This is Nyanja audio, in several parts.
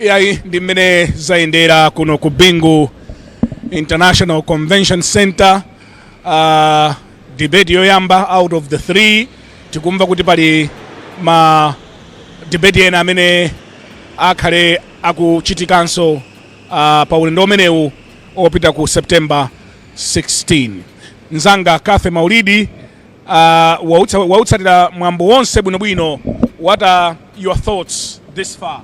iyayi ndi mmene zayendera kuno ku bingu international convention center uh, debate yoyamba out of the three tikumva kuti pali ma debate ena amene akhale akuchitikanso uh, pa ulendo umenewu opita ku september 16 Mzanga Cathy Maulidi uh, wautsatira mwambo wonse bwinobwino. What are your thoughts this far?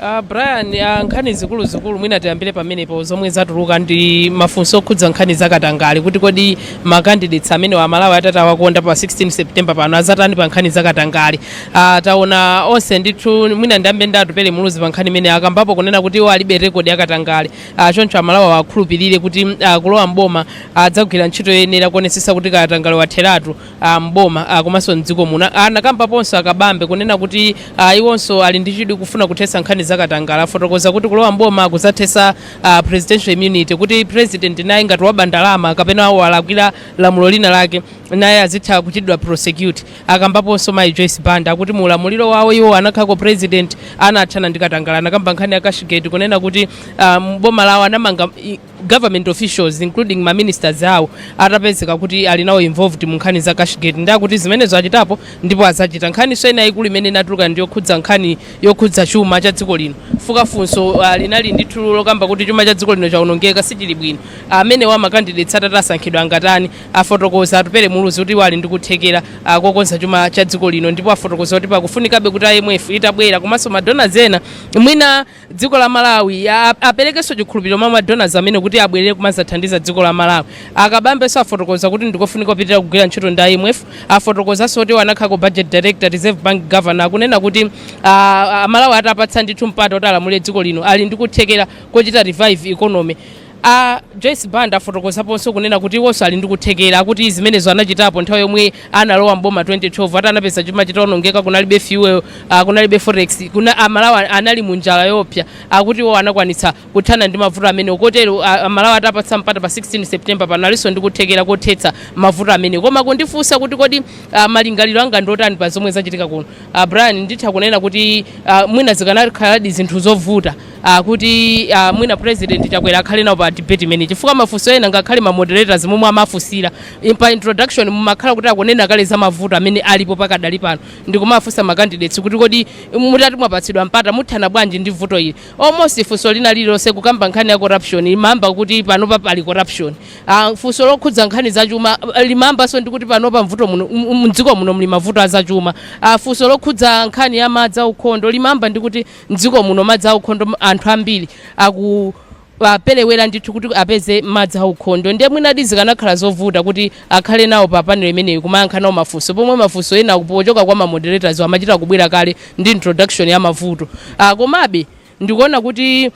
Uh, Brian uh, nkhani zikulu zikulu mwina tiyambire pamenepo zomwe zatuluka ndi mafunso okhudza nkhani zakatangale kuti kodi makandidates amenewa aMalawi atati awakonda pa 16 September pano azatani pa nkhani zakatangale uh, taona onse ndithu mwina ndiyambe ndi Atupele Muluzi pa nkhani imene akambapo kunena kuti iwo alibe rekodi yakatangale Ah, choncho amalawi awakhulupirire kuti mm, ah, kulowa mboma adzagwira ntchito yoyenera kuonetsetsa kuti katangale watheratu ah, mboma ah, komanso mdziko muno anakambaponso akabambe kunena kuti ah, iwonso ali ndi chidwi kufuna kuthetsa nkhani za katangale afotokoza kuti kulowa mboma kudzathetsa ah, presidential immunity kuti president naye ngati waba ndalama kapena walakwira lamulo lina lake naye azitha kuchitidwa prosecute Akambaponso mayi Joyce Banda akuti mu ulamuliro wawo iwo anakhalako president anathana ndi katangale anakamba nkhani ya cashgate kunena kuti ah, m'boma lawo anamanga i- government officials including ma ministers awo atapezeka kuti ali nawo involved mu nkhani za cashgate ndiye akuti zimenezo achitapo ndipo azachita nkhaninso ina yaikulu imene inatuluka ndi yokhudza nkhani yokhudza chuma cha dziko lino fuka funso ah, linali ndithu lokamba kuti chuma cha dziko lino chawonongeka sichili bwino amenewa makandidates atati asankhidwa angatani Afotokoza Atupele Muluzi kuti iwo ali ndi kuthekera kokonza chuma cha dziko lino ndipo afotokoza kuti pakufunikabe kuti IMF itabwera komanso ma donors ena mwina dziko la Malawi aperekenso chikhulupiliro mwa ma donors amenewa kuti abwelere kumazathandiza dziko la Malawi. A Kabambenso afotokoza kuti ndikofunika kupitilira kugwira ntchito ndi IMF. Afotokozanso kuti iwo anakhalako Budget Director, Reserve Bank Governor akunena kuti a Malawi atawapatsa ndithu mpata oti alamulire dziko lino ali ndi kuthekera kochita revive economy. A Joyce Banda afotokozaponso kunena kuti iwonso ali ndi kuthekera akuti zimenezo anachitapo nthawi yomwe analowa m'boma 2012 ati anapeza chuma chitaonongeka, kunalibe fuel, uh, kunalibe forex, kuna, a Malawi anali mu njala yoopsa akuti iwo anakwanitsa kuthana ndi mavuto amenewo kotero uh, a Malawi atawapatsa mpata pa 16 September pano alinso ndi kuthekera kothetsa mavuto amenewo. Koma kundifunsa kuti kodi uh, malingaliro anga ndi otani pa zomwe zachitika kuno, uh, Brian, nditha kunena kuti uh, mwina zikanakhaladi zinthu zovuta a kuti a mwina president chakwera akhale nawo pa debate imene chifukwa mafunso ena ngakhale ma moderators momwe amafunsira in- pa introduction mumakhala kuti akunena kale za mavuto amene alipo pakadali pano ndikumafunsa ma candidates kuti kodi mutati mwapatsidwa mpata muthana bwanji ndi vuto ili almost funso lina lililonse kukamba nkhani ya corruption imayamba kuti panopa pali corruption Ah, funso lokhudza nkhani za chuma ah, limayambanso ndi kuti panopa mvuto muno m- m- mdziko muno muli mavuto a za chuma Ah, funso lokhudza nkhani ya madzi aukhondo limayamba ndi kuti M'dziko muno madzi aukhondo anthu ambiri akuperewera ndithu kuti apeze madzi aukhondo ndiye mwinadi zikanakhala zovuta kuti akhale nawo pa panel imeneyi kumayankha nawo mafunso pomwe mafunso ena pochoka kwa ma moderators wo amachita kubwera kale ndi introduction ya mavuto. Komabe ndikuona kuti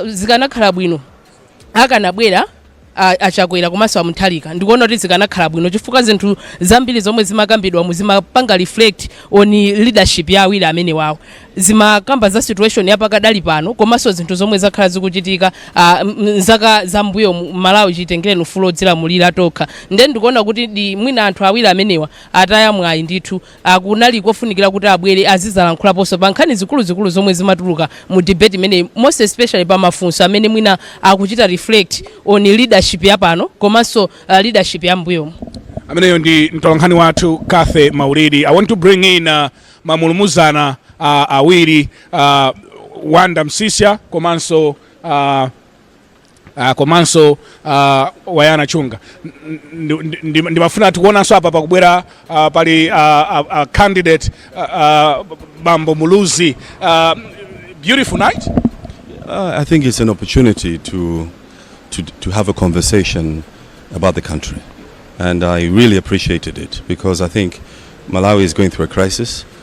zikanakhala bwino. akanabwera a, a chakwera komanso a mutharika ndikuona kuti zikanakhala bwino chifukwa zinthu zambiri zomwe zimakambidwa mu zimapanga reflect on leadership ya awiri amenewawo zimakamba za situation yapakadali pano komanso zinthu zomwe zakhala zikuchitika ah, m- m- zaka za mbuyo mu malawi chitengere ufulu odzilamulira tokha nde ndikuona kuti ndi mwina anthu awiri amenewa ataya mwayi ndithu a kunali kofunikira kuti abwere azizalankhulaponso pa nkhani zikuluzikulu zomwe zimatuluka mu debate imeneyi most especially pa mafunso amene mwina akuchita reflect on leadership ya pano komanso uh, leadership ya mbuyomu ameneyo ndi mtolankhani wathu cathy maulidi i want to bring in uh, mamulumuzana uh, awiri uh, wanda msisya komanso uh, Ah, komanso ah, wayana chunga Ndi- ndi- ndi- ndimafuna tikuonanso apa pakubwera ah, pali ah, ah, ah, candidate ah, ah, bambo muluzi Ah, beautiful night Uh, I think it's an opportunity to, to, to have a conversation about the country. And I really appreciated it because I think Malawi is going through a crisis.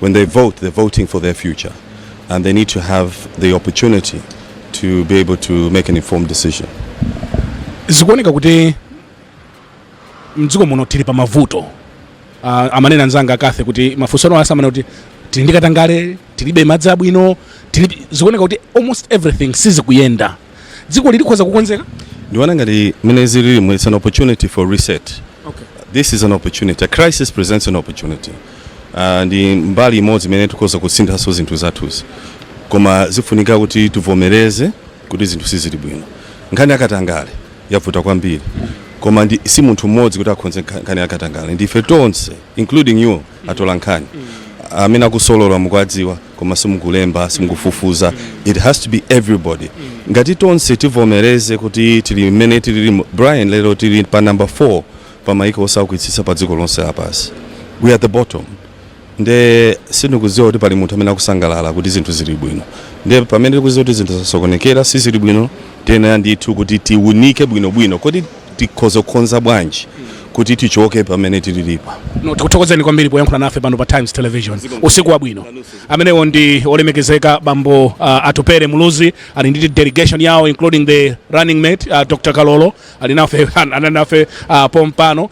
When they vote, they're voting for their future and they need to have the opportunity to be able to make an informed decision. zikuoneka kuti mdziko muno tili pa mavuto uh, amanena anzanga a cathy kuti mafunso ano asamana kuti tili ndi katangale tilibe madzi abwino tilibe zikuoneka kuti almost everything sizikuyenda dzikoli likhoza kukonzeka ndiona ngati mmene zililimo its an opportunity for reset okay. this is an opportunity a crisis presents an opportunity uh, ndi mbali imodzi imene tikhoza kusinthanso zinthu zathuzi koma zifunika kuti tivomereze kuti zinthu sizili bwino nkhani yakatangale yavuta kwambiri koma ndi si munthu mmodzi kuti akhonze nkha- nkhani yakatangale ndife tonse including you atolankhani amene akusolola mukuwadziwa koma simukulemba simukufufuza it has to be everybody ngati tonse tivomereze kuti tili mmene tilili mu- brian lero tili pa number 4 pa maiko osaukitsitsa pa dziko lonse lapansi we are the bottom nde sindikudziwa kuti pali munthu amene akusangalala kuti zinthu zili bwino nde pamene tikudziwa kuti zinthu zasokonekera sizili bwino tiyenera ndithu kuti tiunike bwinobwino kodi tikhoza kukonza bwanji kuti tichoke pamene tilili pano, tikuthokozeni kwambiri poyankhula nafe pano pa Times Television usiku wabwino amenewo ndi olemekezeka bambo uh, atupere muluzi ali ndi delegation yawo including the running mate uh, Dr. Kalolo ali nafe anali nafe uh, pompano uh,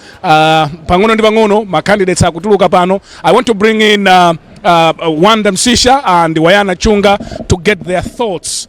pang'ono ndi pang'ono ma candidates akutuluka pano i want to bring in uh, uh, Wonder Msiska and Wawanya Chunga to get their thoughts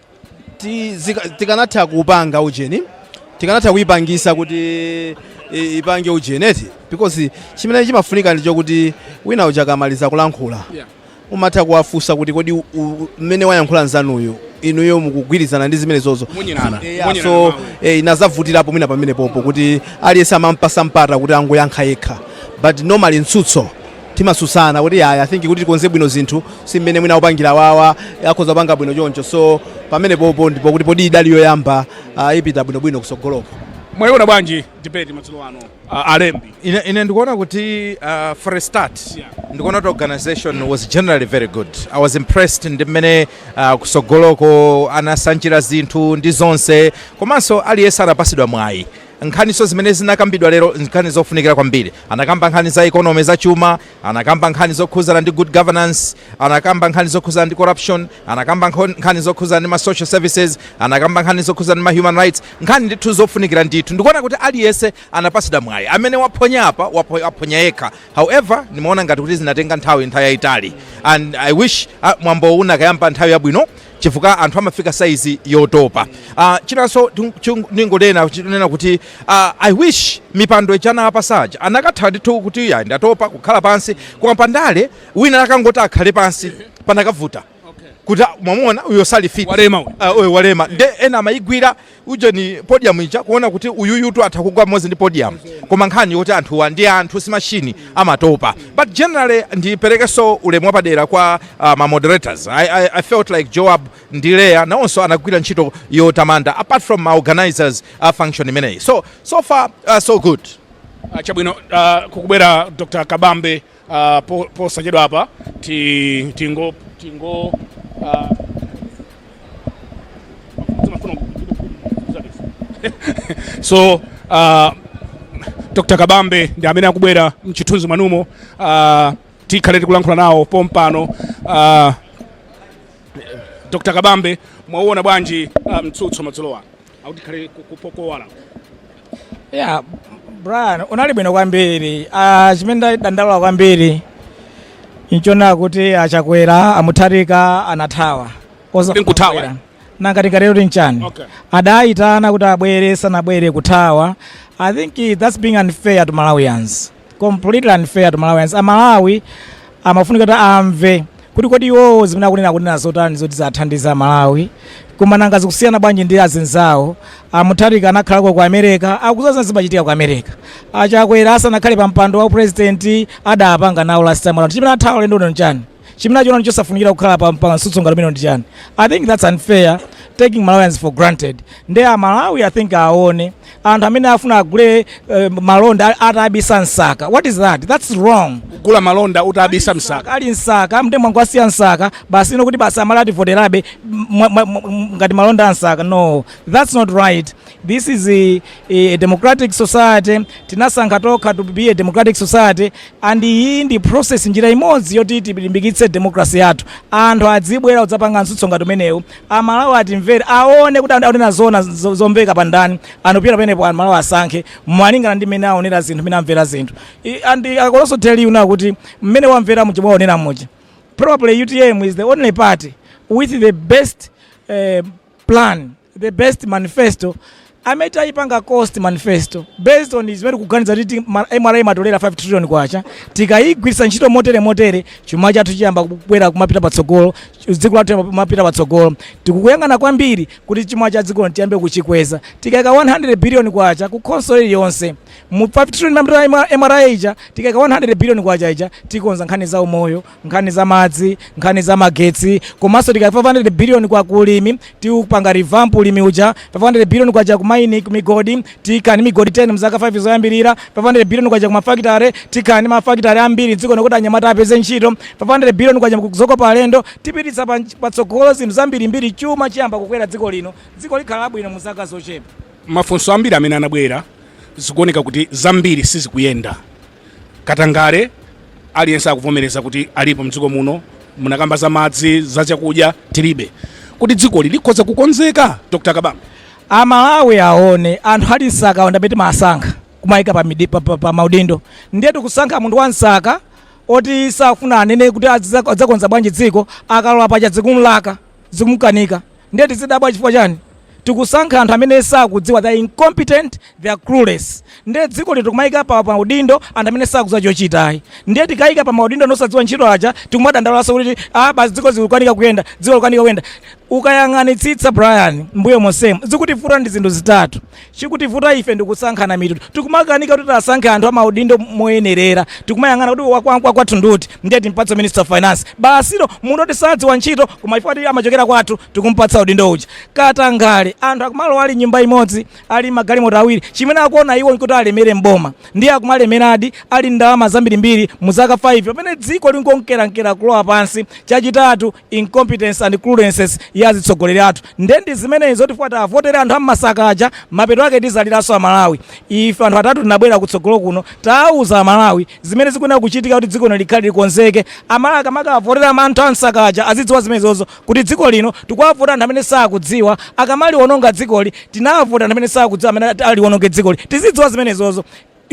tikanatha kupanga ujeni tikanatha kuipangisa kuti ipange ujeni eti because chimene chimafunika ndicho kuti wina uja akamaliza kulankhula yeah. umatha kuwafunsa kuti kodi mmene wayankhula nzanuyo inuyo mukugwirizana ndi zimene zozo yeah, so eh, inazavutirapo mwina pamenepopo kuti aliyense amampasa mpata kuti angoyankha yekha but normally mtsutso timatsutsana kuti yaya i think kuti tikonze bwino zinthu si mmene mwina opangira wawa akhoza kupanga bwino choncho so pamenepopo ndipo kuti poti idali yoyamba ah, ipita bwinobwino kusogoloko mwayiona bwanji debate madzulo ano uh, alembi ine, ine ndikuona kuti uh, for a start Yeah. ndikuona kuti organization was generally very good i was impressed ndi mmene uh, kusogoloko anasanjira zinthu ndi zonse komanso aliyense anapasidwa mwayi Nkhaninso zimene zinakambidwa lero n'nkhani zofunikira kwambiri. Anakamba nkhani za economy, zachuma, anakamba nkhani zokhudzana ndi good governance, anakamba nkhani zokhudzana ndi corruption, anakamba nkho- nkhani zokhudzana ndi ma social services, anakamba nkhani zokhudzana ndi ma human rights, nkhani ndithu zofunikira ndithu. Ndikuona kuti aliyense anapatsidwa mwayi. Amene waphonya apa, wapho- waphonya yekha. However, ndimaona ngati kuti zinatenga nthawi nthawi yayitali and I wish ah, mwambowu unakayamba nthawi yabwino chifukwa anthu amafika saizi yotopa. Uh, chinanso ndingonena chinena kuti uh, i wish mipando ija anapatsa aja anakatha ndithu kuti ya ndatopa kukhala pansi koma pandale wina anakangoti akhale pansi panakavuta kuti mwamuona uyo sali fit walema, uh, walema. nde ena amayigwira ujeni podium ija kuona kuti uyuyutu atha kugwa pamodzi ndi podium koma nkhani yoti anthuwa ndi anthu si mashini amatopa but generally ndiperekenso ulemu wapadera kwa uh, ma moderators I, I, i felt like joab ndi leya nawonso anagwira ntchito yotamandika apart from ma organizers a function imeneyi so so far uh, so good Ah, chabwino ah, kukubwera dr kabambe Uh, po, posachedwapa ti, tingo tingo uh, zimafuna so uh, dr kabambe ndi amene akubwera mchithunzi mwanumo uh, tikhale tikulankhula nawo pompano uh, dr kabambe mwauona bwanji uh, mtsutso madzulo ano akutikhale kukowala yeah brian unali bwino kwambiri ah, chimene ndadandaula kwambiri nchona kuti achakwera amutharika anathawa Anathawa? Nkuthawa. Chakwera. nanga tingatero kuti nchani Okay. adayitana kuti abwere sanabwere kuthawa i think that's being unfair to malawians completely unfair to Malawians. Amalawi amafunika kuti amve kuti kodi iwowo zimene akunena akunena zotani zoti zathandiza amalawi koma nanga zikusiyana bwanji ndi azinzawo amutharika anakhala ku America akudziwa zimachitika ku America achakwera asanakhale pa mpando wa president adapanga nawo last time around chimene athawa ulendo uno nchani chimene achiona ndi chosafunikira kukhala pa pa mtsutso ngati umenewu ndi chani i think that's unfair taking malawians for granted nde amalawi i think aone anthu amene afuna agule eh, malonda atabisa m'saka what is that that's wrong kugula malonda utabisa m'saka ali m'saka ndiye mwangowasiya m'saka basi iwo kuti basi amalawi ativoterabe mwa- mwa- mwa- ngati malonda a m'saka no that's not right This is a, a democratic society tinasankha tokha to be a democratic society and iyi ndi process njira imodzi yoti tilimbikitse democracy yathu anthu adzibwera kudzapanga mtsutso ngati umenewu amalawi atimvere aone kuti anthu akunena zona zo- zomvekapa ndani and kupyolera pamenepo amalawi asankhe malingana ndi mmene aonera zinthu mmene amvera zinthu I- and I could also tell you now kuti mmene mwamvera muja mwaonera muja probably utm is the only party with the best eh, plan the best manifesto amene tayipanga cost manifesto based on zimene tikuganiza kuti ti- ma- mra imatolera 5 trillion kwacha tikayigwiritsa ntchito motere motere chuma chathu chiyamba kubwera kumapita patsogolo dziko lathu liyamba kumapita patsogolo tikuyang'ana kwambiri kuti chuma cha dziko tiyambe kuchikweza tikayika 100 billion kwacha ku khonsolo iliyonse mu 5 trillion ya mra ija tikayika 100 billion kwacha ija tikonza nkhani za umoyo nkhani za madzi, nkhani za magetsi komanso tikayika 500 billion kwacha ku ulimi tiupanga revamp ulimi uja 500 billion kwacha kumaini kumigodi tikhala ndi migodi 10 mzaka 5 zoyambirira 500 billion kwacha kumafakitare tikhala ndi mafakitare ambiri mdziko muno kuti anyamata apeze ntchito 500 billion kwacha kuzokopa alendo tipititsa pa- patsogolo zinthu zambirimbiri chuma chiyamba kukwera dziko lino dziko likhala labwino mu zaka zochepa mafunso ambiri amene anabwera zikuoneka kuti zambiri sizikuyenda katangale aliyense akuvomereza kuti alipo mdziko muno munakamba za madzi za chakudya tilibe kodi dzikoli likhoza kukonzeka dr kabambe amalawi aone anthu ali m'saka ondabeti mumasankha kumayika pa, midi- pa, pa, pa maudindo ndiye tikusankha munthu wa m'saka oti sakufuna anene kuti aziza- adzakonza bwanji dziko akalowa paja zikumlaka zikumukanika ndiye tizidabwa chifukwa chani tikusankha anthu amene sakudziwa they are incompetent they are clueless ndiye dziko lino tikumayika pa maudindo anthu amene sakudziwa chochitayi ndiye tikayika pa maudindo anthu osadziwa ntchito aja tikumadandaulaso kuti ah basi dziko zikukanika kuyenda dziko likukanika kuyenda ukayang'anitsitsa brian mbuyo monsemo zikutivuta ndi zinthu zitatu Chikutivuta ife ndikusankhana mitundu tikumakanika kuti tasankhe anthu amaudindo moyenerera tikumayang'ana kuti wakwathu ndiuti ndiye timpatse minister of finance basitu munthu oti sadziwa ntchito koma chifukwa kuti amachokera kwathu tikumpatsa udindo uja. Katangale anthu akumalowa ali ndi nyumba imodzi ali ndi magalimoto awiri chimene akuona iwo nkuti alemere m'boma ndiye akumalemeradi ali ndi ndalama zambirimbiri muzaka 5 pamene dziko likunkerankera kulowa pansi. Chachitatu incompetence and cluelessness ya azitsogoleri athu nde ndizimene izo tikukavotera anthu a m'masaka aja mapeto ake tizaliranso amalawi ife anthu atatu tinabwera kutsogolo kuno tauza amalawi zimene zikuyenera kuchitika kuti dziko lino likhale likonzeke amalawi akamakavotera anthu a m'masaka aja azidziwa zimenezozo kuti dziko lino tikuvota anthu amene sakudziwa akamaliononga dzikoli tinavota anthu amene sakudziwa amene aliwononge dzikoli tizidziwa zimenezozo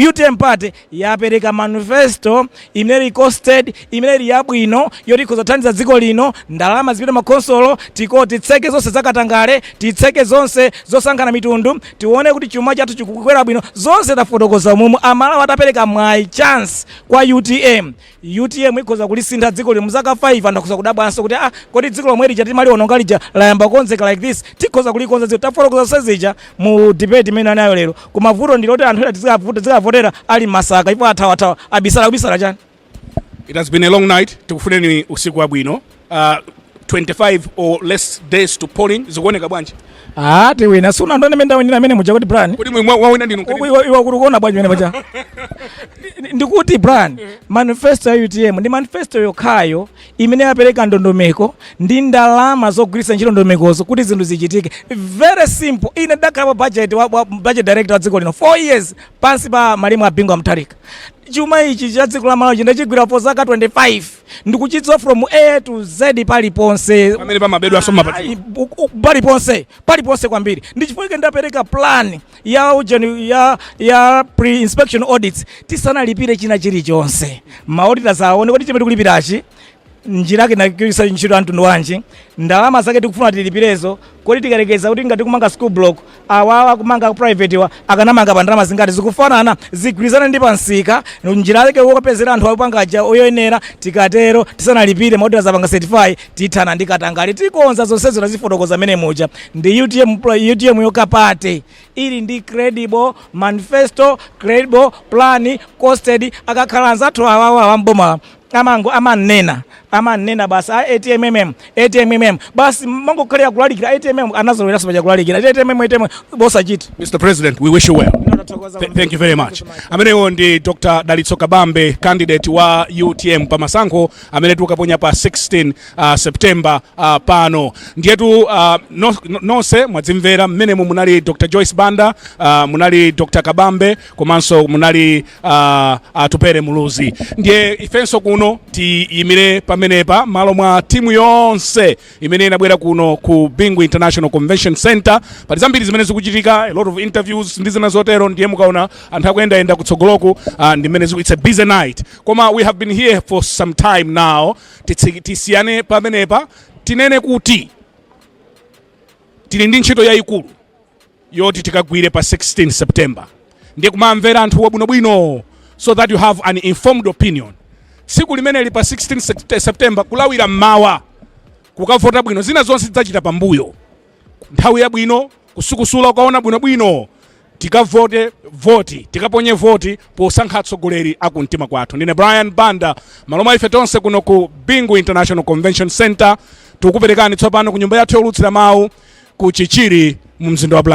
Utm Party yapereka manifesto imene ili costed, imene ili yabwino, yoti ikhoza kuthandiza dziko lino, ndalama zipite mmakhonsolo, titseke zonse za katangale, titseke zonse zosankhana mitundu, tione kuti chuma chathu chikukwera bwino, zonse tafotokoza umumu, a Malawi atapereka mwayi, chance, kwa utm, Utm ikhoza kulisintha dziko lino mzaka 5 anthu akhoza kudabwanso kuti aa kodi dziko lomwe lija timaliononga lija layamba kukonzeka like this tikhoza kulikonza dziko tafotokoza zonse zija mu debate imene tinali nayo lero koma vuto ndi loti anthu ena azikavotera ali m'masaka chifukwa athawathawa abisala kubisala chani It has been a long night. Tikufuneni usiku wabwino. uh, 25 or less days to polling zikuoneka bwanji ah tiwina sunaone mmene ndawinira mmene muja kodi brian kodi mwawina ndinu Uku- iwe iwe ukuona bwanji mmene paja Ndi- ndikuti brian manifesto ya utm ndi manifesto yokhayo imene yapereka ndondomeko ndi ndalama zogwiritsa ntchito ndondomekozo kuti zinthu zichitike very simple ine ndakhala pa budget wa, wa budget director wa dziko lino 4 years pansi pa malemu a bingu wa mutharika chuma ichi cha dziko la malawi ndachigwira for zaka 25 ndikuchidziwa from a to z paliponse pamene pamabedwanso mpati Ayi, bu- ku- paliponse paliponse kwambiri ndi chifukwa chake ndapereka plan ya ujeni ya ya pre inspection audits tisanalipire china chilichonse ma auditors aone kuti chimene tikulipirachi njira yake nakisa ntchito ya mtundu wanji ndalama zake tikufuna tilipirezo kodi tikayerekeza kuti ngati tikumanga school block Awawa akumanga a private wa akanamanga pa ndalama zingati zikufanana zigwirizane ndi pa msika njira yake yopezera anthu akupanga aja yoyenera tikatero tisanalipire ma auditor azapanga certify tithana ndi katangale tikonza zonsezo tazifotokoza mmene muja ndi UTM pro- UTM yokha party ili ndi credible manifesto credible plan costed akakhala anzathu awawa a m'bomawa amango amannena amannena basi a atmm atmm basi mangokhalira kulalikira atmm anazoloweraso paja kulalikira atmm atmm posachita Mr. President, we wish you well. Th- thank you very much. Amenewo ndi Dr. Dalitso Kabambe, candidate wa UTM pa masankho amene tikukaponya pa 16 uh, September uh, pano. Ndiyetu uh, no- no- nonse mwadzimvera mmenemo munali Dr. Joyce Banda, uh, munali Dr. Kabambe, komanso munali uh, atupere muluzi ndiye ifenso kuno tiyimire pamenepa malo mwa timu yonse imene inabwera kuno ku bingu international convention center pali zambiri zimene zikuchitika a lot of interviews ndi zina zotero ndiye mukaona anthu akuyendayenda kutsogoloku uh, ndi mmene ziku- it's a busy night koma we have been here for some time now Titsi- tisiyane pamenepa tinene kuti tili ndi ntchito yayikulu yoti tikagwire pa 16 September ndiye kumamvera anthuwa bwinobwino so that you have an informed opinion tsiku limeneli pa 16 Sept- September kulawira mmawa kukavota bwino zina zonse tidzachita pambuyo nthawi yabwino kusukusula ukaona bwinobwino tikavote voti tikaponye voti posankha atsogoleri akumtima kwathu ndine brian banda malo mwa ife tonse kuno ku bingu international convention center tikukuperekani tsopano ku nyumba yathu youlutsira mawu ku chichiri mu mzinda wa Blantyre